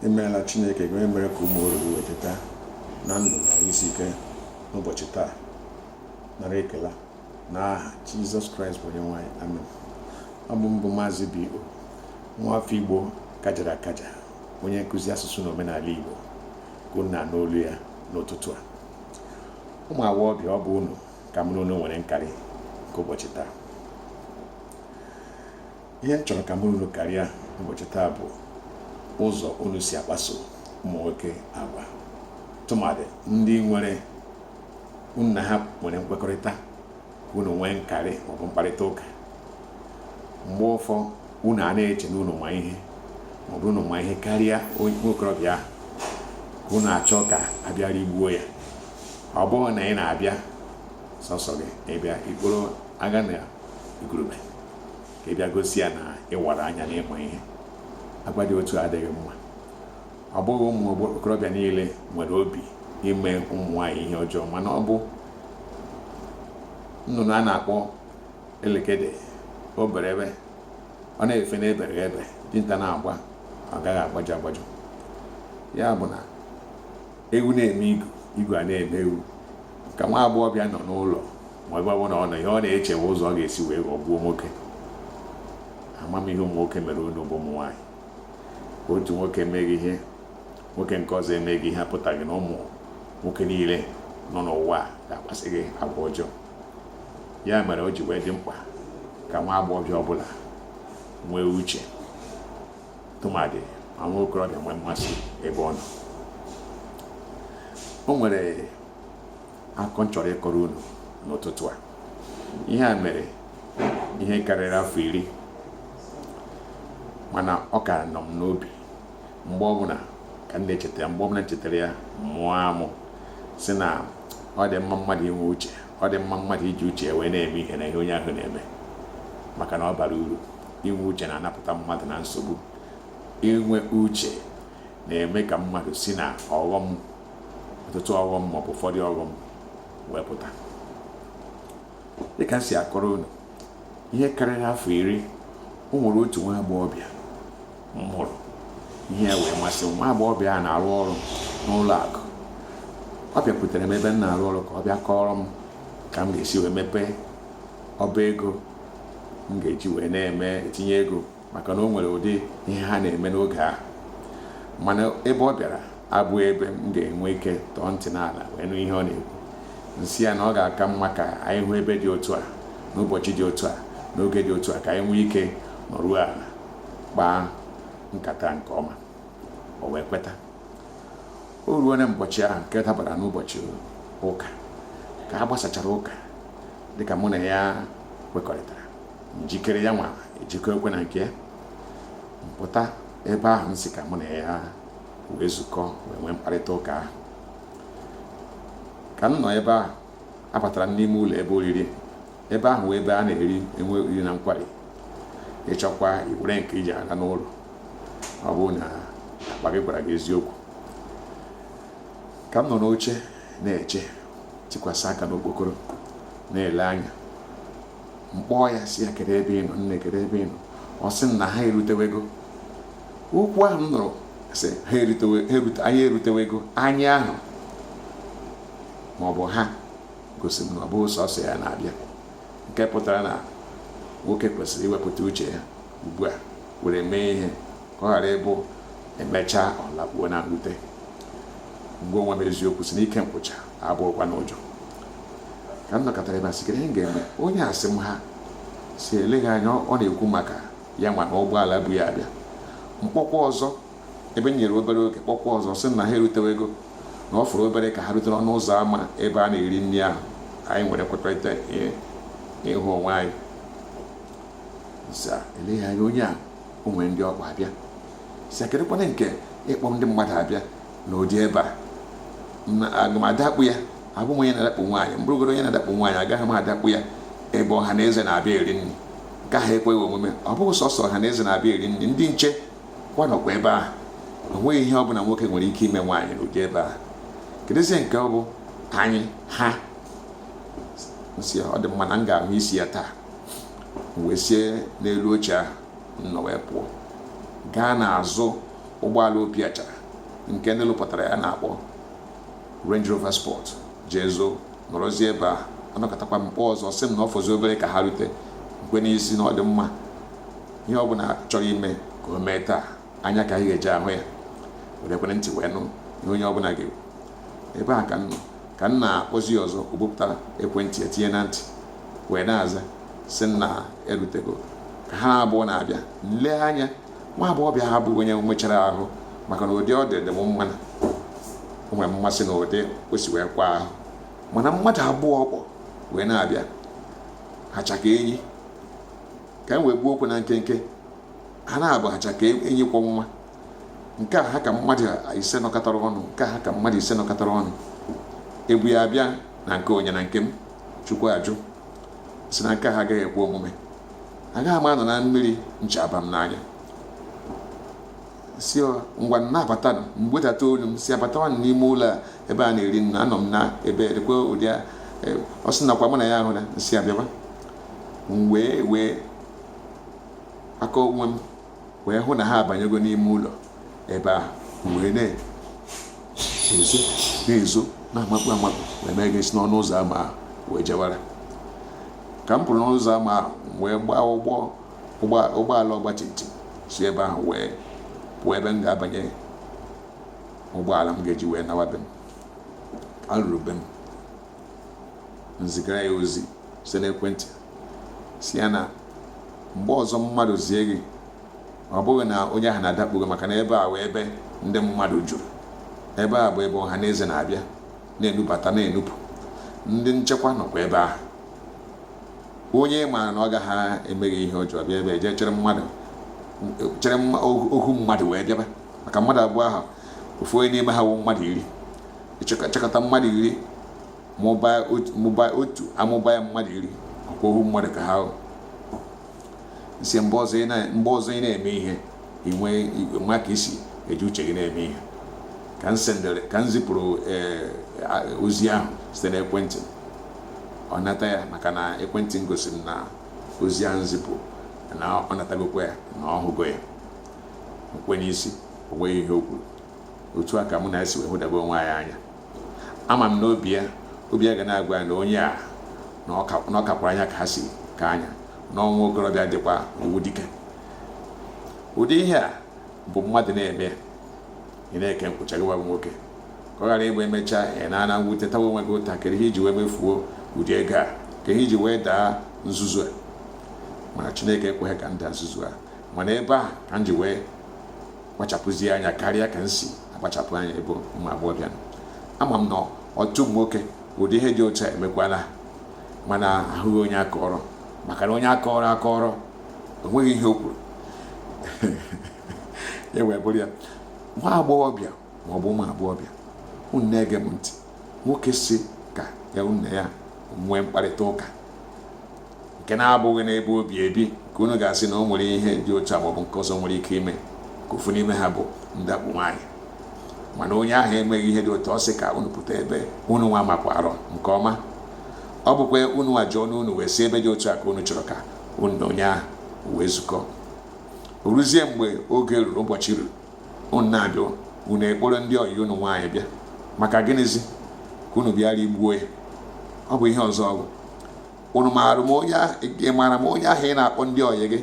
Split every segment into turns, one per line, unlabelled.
imeela chineke gị onye mere ka ụmụ oru gị wee teta na ndụ na isi ike n'ụbọchị taa nara ekele na aha jizọs kraịst bụ onye nwe anyị amen ọ bụ m bụ maazị b o nwa afọ igbo kajara akaja onye nkụzi asụsụ na omenala igbo ka unu na-anụ olu ya n'ụtụtụ a ụmụ agbọghọbịa ọ bụ unu ka mụ na unu nwere nkarị nke ụbọchị taa ihe m chọrọ ka mụ na unu karịa ụbọchị taa bụ ụzọ unu si akpaso ụmụ nwoke agwa tụmadị ndị nwere unu na ha nwere nkwekọrịta ka unu nwee nkarị maọbụ mkparịta ụka mgbe ụfọ unu a na-eche na unu ma ihe maọbụ unu ma ihe karịa onye okorobịa ahụ ka unu achọ ka a bịa rigbuo ya ọ bụghị na ị na-abịa sọsọ gị ị bịa ị kpọrọ aga na igurube ka ị bịa gosi ya na ị wara anya na ị ma ihe agwa dị otu a adịghị mma ọ bụghị ụmụ okorobịa niile nwere obi ime ụmụ nwaanyị ihe ọjọọ mana ọ bụ nnụnụ a na-akpọ elekede o bere ebe ọ na-efe n'ebere ebe dinta na-agba ọ gaghị agbajọ agbajọ ya bụ na ewu na-eme igu igu a na-eme ewu ka nwa agbọghọbịa nọ n'ụlọ ma ebe ọbụla ọ nọ ihe ọ na-eche bụ ụzọ ọ ga-esi wee ghọgbuo nwoke ama m ihe ụmụ nwoke mere unu bụ ụmụ nwaanyị otu nwoke mee gị ihe nwoke nke ọzọ emee gị ihe apụtaghị na ụmụ nwoke niile nọ n'ụwa ga-akpaso gị agwa ọjọọ ya mere o ji wee dị mkpa ka nwa agbọghọbịa ọbụla nwee uche tụmadị ma nwa okorobịa nwee mmasị ebe ọ nọ o nwere akụkọ m chọrọ ịkọrọ unu n'ụtụtụ a ihe a mere ihe karịrị afọ iri mana ọ ka nọ m n'obi mgbe ọbụla ka m na-echeta ya mgbe ọbụla m chetara ya mụọ amụ sị na ọ dị mma mmadụ inwe uche ọ dị mma mmadụ iji uche ya wee na-eme ihe na ihe onye ahụ na-eme maka na ọ bara uru inwe uche na-anapụta mmadụ na nsogbu inwe uche na-eme ka mmadụ si na ọghọm ọtụtụ ọghọm maọbụ ụfọdụ ọghọm wee pụta dịka m si akọrọ unu ihe karịrị afọ iri o nwere otu nwa agbọghọbịa m hụrụ ihe wee masị m nwa agbọghọbịa a na-arụ ọrụ n'ụlọ akụ ọ bịakwutere m ebe m na-arụ ọrụ ka ọ bịa kọọrọ m ka m ga-esi wee mepee ọba ego m ga-eji wee na-eme etinye ego maka na o nwere ụdị ihe ha na-eme n'oge ahụ mana ebe ọ bịara abụghị ebe m ga-enwe ike tọọ ntị n'ala wee nụ ihe ọ na-ekwu m sị ya na ọ ga-aka mma ka anyị hụ ebe dị otu a n'ụbọchị dị otu a n'oge dị otu a ka anyị nwee ike nọruo ala kpaa nkata nke ọma o wee kweta o ruo na mbọchị ahụ nke dabara n'ụbọchị ụka ka a gbasachara ụka dịka mụ na ya kwekọrịtara m jikere ya nwa ejikekwa na nke ya m pụta ebe ahụ m sị ka mụ na ya wee zukọ wee nwee mkparịta ụka ahụ ka m nọ ebe ahụ abatara m n'ime ụlọ ebe oriri ebe ahụ ebe a na-eri enwe oriri na nkwari ị chọkwa iwere nke i ji aga n'ụlọ ọ bụrụ na akpa gị gwara gị eziokwu ka m nọ n'oche na-eche tikwasị aka n'okpokoro na-ele anya m kpọọ ya sị ya kedu ebe ị nọ nne kedu ebe ị nọ ọ sị na ha erutewego okwu ahụ m nụrụ sị anyị erutewego anyị ahụ ma ọ bụ ha gosi m na ọ bụghị sọsọ ya na-abịa nke pụtara na nwoke kwesịrị iwepụta uche ya ugbu a were mee ihe ka ọ ghara ịbụ emechaa ọ lakpuo na mwute m gwa onwe m eziokwu sị n'ike nkwụcha abụghịkwanụ ụjọ ka m nọkatara ebe a sị ihe m ga-eme onye a sị m ha sị eleghị anya ọ na-ekwu maka ya nwa na ụgbọala bu ya abịa m kpọkwa ọzọ ebe m nyere obere oge kpọkwa ọzọ sị na ha erutewego na ọ fọrọ obere ka ha rute n'ọnụ ụzọ ámá ebe a na-eri nri ahụ anyị nwere nkwekọrịta ịhụ onwe anyị sị eleghị anya onye a o nwere ndị ọ kpọ abịa sị kedụkwanụ nke ịkpọ ndị mmadụ abịa n'ụdị ebe a na aga m adakpu ya abụ m onye na-adakpu nwaanyị m bụrụgoro onye na-adakpu nwaanyị agaghị m adakpu ya ebe ọha na eze na-abịa eri nri nke ahụ ekweghị omume ọ bụghị sọsọ ọha na eze na-abịa eri nri ndị nche kwa nọkwa ebe ahụ o nweghị ihe ọbụla nwoke nwere ike ime nwaanyị n'ụdị ebe ahụ kedụzie nke ọ bụ anyị ha m sị ọ dị mma na m ga-ahụ isi ya taa wee sie n'elu oche ahụ m nọ wee pụọ gaa n'azụ ụgbọala opi achara nke ndị lụpụtara ya na-akpọ Range Rover Sport jee zoo nọrọzie ebe ahụ anọkatakwa m kpọọ ọzọ sị m na ọ fọzi obere ka ha rute m kwe n'isi na ọ dị mma ihe ọ bụla chọrọ ime ka o mee taa anya ka anyị ga-eji ahụ ya werekwa ntị wee nụ ihe onye ọ bụla ga-ekwu ebe a ka m na-akpọzi ọzọ o bupụtara ekwentị ya tinye na ntị wee na-aza sị nna erutego ka ha abụọ na-abịa m lee anya nwa agbọghọbịa ahụ bụ onye mechara ahụ maka na ụdị ọ dị dị m mma na o nwere mmasị na ụdị o si wee kwa ahụ mana mmadụ abụọ ọ kpọ wee na-abịa hacha ka enyi ka m wee gbuo okwu na nkenke ha naabọ hacha ka enyi kwọ nwa nke a ha ka mmadụ ise nọkọtara ọnụ nke a ha ka mmadụ ise nọkọtara ọnụ e bu ya abịa na nke onye na nke m chukwu ajụ sị na nke a agaghị ekwe omume agaghị m anọ na mmiri ncha abaa m n'anya sị ngwa na-abata m wedata olu m sị ha batawanụ n'ime ụlọ a ebe a na-eri nri na anọ m na ebe dịkwa ụdị e, ọ sị nakwa mụ na ya ahụ na m sị ha bịaba wee wee aka onwe m wee hụ na ha abanyego n'ime ụlọ ebe ahụ wee na-ezo na-ezo na-amakpu amakpu wee mee gịsi n'ọnụ ụzọ ama ahụ wee jewara ka m pụrụ n'ọnụ ụzọ ama ahụ wee gbaa ụgbọ ụgbọala ọgba tum tum si ebe ahụ wee pụọ ebe m ga-abanye ụgbọala m ga-eji wee nawa be m ka m ruru be m m zigara ya ozi site n'ekwentị sị ya na mgbe ọzọ mmadụ zie gị ọ bụghị na onye ahụ na-adakpo gị maka na ebe a wụ ebe ndị mmadụ juru ebe a bụ ebe ọha na eze na-abịa na-enubata na-enupụ ndị nchekwa nọkwa ebe ahụ onye maara na ọ gaghị eme gị ihe ọjọọ bịa ebe i je chịrị mmadụ chịrị ohu mmadụ wee bịaba maka mmadụ abụọ ahụ ofu onye n'ime ha wụ mmadụ iri chekọta mmadụ iri mụbaa otu amụba ya mmadụ iri ọkwa ohu mmadụ ka ha m sị mgbe ọzọ ị na-eme ihe i nwee ka i si eji uche gị na-eme ihe ka m sendere ka m zipụrụ eh, ozi ahụ site n'ekwentị ọ nata ya maka na ekwentị m gosiri na ozi ahụ zipụrụ na ọ natagokwa ya na ọ hụgo ya m kwe n'isi o nweghị ihe o kwuru otu a ka mụ na ya si wee hụdebe onwe anyị anya ama m na obi ya obi ya ga na-agwa ya na onye a na ọ kakwara anya ka ha si ka anya na nwa okorobịa dịkwa ọ wụ dike ụdị ihe a bụ mmadụ na-eme ị na-eke nkwụcha gị bụ nwoke ka ọ ghara ịbụ emechaa ị nọọ na mwute tawa onwe gị ụta kedu ihe i ji wee mefuo ụdị ego a kee ihe i ji wee daa nzuzu a mana chineke ekweghị ka m daa nzuzu a mana ebe a ka m ji wee kpachapụzie anya karịa ka m si akpachapụ anya ebe ụmụ agbọghọbịa nọ ama m na ọtụtụ nwoke ụdị ihe dị otu a emekwala ha mana ahụghị onye a kọọrọ maka na onye a kọọrọ akọọrọ o nweghị ihe o kwuru ya wee bụrụ ya nwa agbọghọbịa ma ọ bụ ụmụ agbọghọbịa unu na-ege m ntị nwoke sị ka unu na ya nwee mkparịta ụka nke na-abụghị n'ebe o bi ebi ka unu ga-asị na o nwere ihe dị otu a maọbụ nke ọzọ nwere ike ime nke ofu n'ime ha bụ ndakpu nwaanyị mana onye ahụ emeghị ihe dị otu ọ sị ka unu pụta ebe unu nwa makwara nke ọma ọ bụkwa unu nwa jụọ n'unu wee sị ebe dị otu a ka unu chọrọ ka unu na onye ahụ wee zukọ o ruzie mgbe oge ruru ụbọchị ruru unu na-abịa unu ekporo ndị ọyị unu nwaanyị bịa maka gịnịzi ka unu bịara igbu ya ọ bụ ihe ọzọ ọ bụ unu maara m onye ahụ ị maara m onye ahụ ị na-akpọ ndị ọyị gị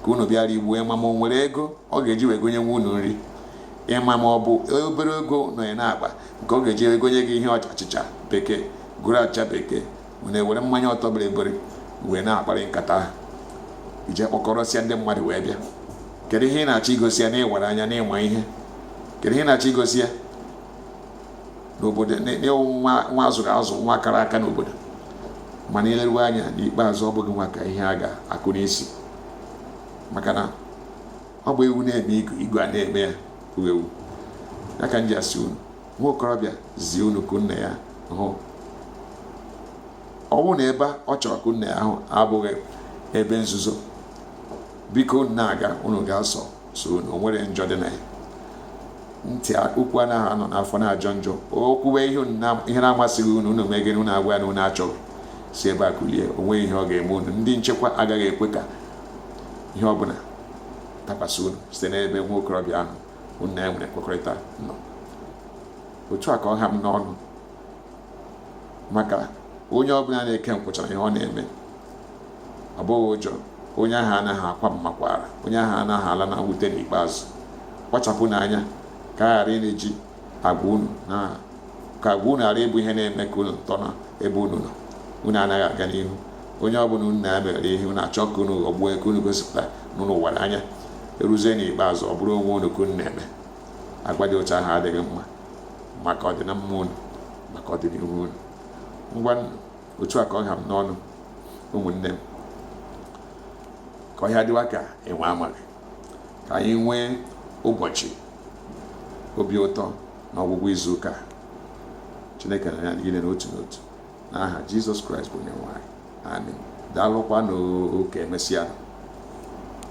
ka unu bịara igbu ya ị ma ma o nwere ego ọ ga-eji wee gonyewa unu nri ị ma ma ọ bụ obere ego nọ ya n'akpa nke ọ ga-eji egonye gị ihe achịcha bekee goro achịcha bekee unu ewere mmanya ọtọ bịrịbịrị wee na-akparị nkata ahụ ị je kpọkọrọsịa ndị mmadụ wee bịa kedu ihe ị na-achọ igosi ya na ị wara anya na ị ma ihe kedu ihe ị na-achọ igosi ya n'obodo na ị wụ nwa a zụrụ azụ nwa kara aka n'obodo mana i leruwe anya n'ikpeazụ ọ bụ gị nwa ka ihe a ga-akụ n'isi maka na ọ bụ ewu na-eme igu igu a na-eme ya bụ ewu ya ka m ji asị unu nwa okorobịa zie unu ka unu na ya hụ ọ bụrụ na ebe ọ chọrọ ka unu na ya hụ abụghị ebe nzuzo biko unu na-aga unu gaa sọ sọ unu o nweghị njọ dị na ya ntị okwu anaghị anọ n'afọ na-ajọ njọ o kwuwe ihe na-amasịghị unu unu meghee ọnụ gwa ya na unu achọghị si ebe a kulie o nweghị ihe ọ ga-eme unu ndị nchekwa agaghị ekwe ka ihe ọ bụla dakwasị unu site n'ebe nwa okorobịa ahụ unu na ya nwere nkwekọrịta nọ otu a ka ọ ha m n'ọnụ maka onye ọbụla na-eke nkwụcha ihe ọ na-eme abụghị ụjọ onye ahụ anaghị akwa mmakwara onye ahụ anaghị ala na mwute n'ikpeazụ kpachapụnụ anya ka a ghara ịna-eji agwa unu ka agwa unu ghara ịbụ ihe na-eme ka unu tọ n'ebe unu nọ unu anaghị aga n'ihu onye ọbụla unu na-emere ihe unu achọọ ka unu ghọgbuo ka unu gosipụta na unu wara anya e ruzie n'ikpeazụ ọ bụrụ onwe unu ka unu na-eme agwa dị otu ahụ adịghị mma maka ọdịnamma unu maka ọdịnihu unu ngwa otu a ka ọ ha m n'ọnụ ụmụnne m ka ọhịa dịwa ka enwe amaghị ka anyị nwee ụbọchị obi ụtọ n'ọgwụgwụ izu ụka chineke na ya niile n'otu n'otu n'aha jizọs kraịst bụ onye nwe anyị amen daalụkwanụ ka emesịa